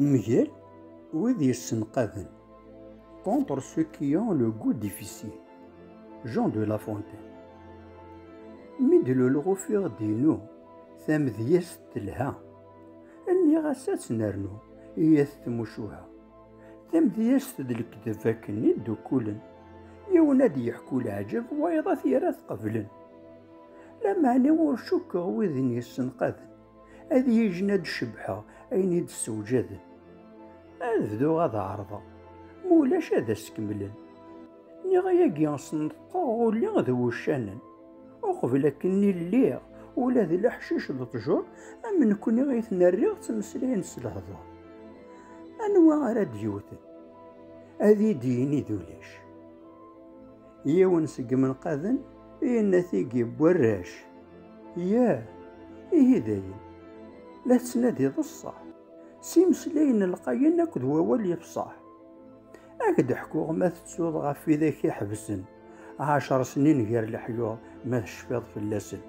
Mgal wid yessenqaden, contre ceux qui ont le goût difficile, Jean de La Fontaine. Mi d-lulɣu fiɣ-d-inu, tamedyazt telha, nniɣ-as ad tt-nernu, iyyat tmucuha. Tamedyazt d lekdeb akken i ddukkulen, yiwen ad d-yeḥku leɛǧeb, wayeḍ ad t-yerr ad t-qeblen. Lameɛna ur cukkeɣ widen yessenqaden, Ad yijn ad d-cebbḥeɣ ayen i d-ssewǧaden. Ad bduɣ ad ɛerḍeɣ, ma ulac ad as-kemmlen. Niɣ ayagi sneṭqeɣ uli d wuccanen. Uqbel akken-nni lliɣ ula d leḥcic d ṭjur am nekkni i ten-rriɣ ttmeslayen s lehdur. Anwa ara d-yewten? Ad yi-d-yini d ulac. Yiwen seg imenqaden yenna tigi n warrac, Yah, ihi dayen, la tettnadiḍ ṣṣeḥ, s imeslayen lqayen akked wawal yefṣeḥ. Ad k-d-ḥkuɣ ma tettuḍ ɣef widak iḥebsen ɛecṛ snin gar leḥyuḍ ma tecfiḍ fell-asen.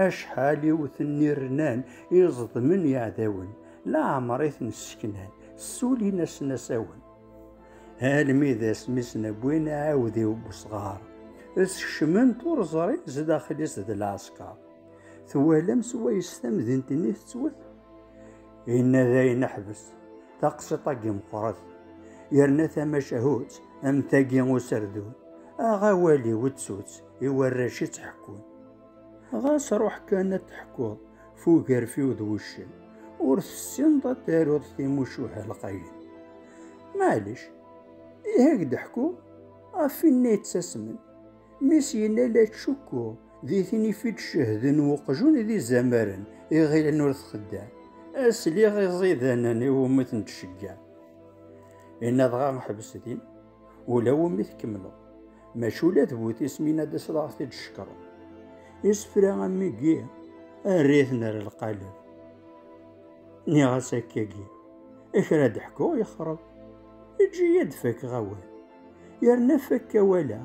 Acḥal i wten n irnan i ẓedmen yeɛdawen, leɛmeṛ i ten-sseknan, ssulin-asen asawen. almi d asmi sen-wwin aɛawdiw n usɣar skecmen-t ur ẓrin zdaxel-is d lɛesker twalam s wayes tamdint-nni tettwet inna dayen ḥbes taqsiṭ-agi meqqret yerna tamacahut am tagi userdun aɣ awal-iw ttutt i warrac i ttḥekkun ɣas ruḥ kan ad teḥkuḍ fugerfiw d wuccen ur tessineḍ ad taruḍ timucuha lqayen maɛlic ihi ak d-ḥku ɣef winna yettasmen mi s-yenna la tcukkuɣ di tin i d-cehden uqjun d izamaren i ɣilen ur txeddam asliɣ iẓidanen iwumi ten-tcegga inna dɣa ḥbes din Ula wumi tkemmleḍ. Maca ula d bu tismin ad as ad t-id cekkren. Isefra am wigi err-iten ar lqaleb. Nniɣ-as akkagi, kra d-ḥkuɣ yexreb. Eǧǧ-iyi ad fakeɣ awal. Yerna fakk awal-a,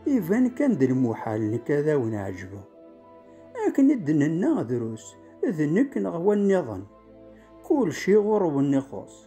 iban kan d lmuḥal nekk ad awen-ɛejbeɣ. Akken i d-nenna drus, d nekk neɣ wa nniḍen. Kulci ɣur-wen ixuṣ.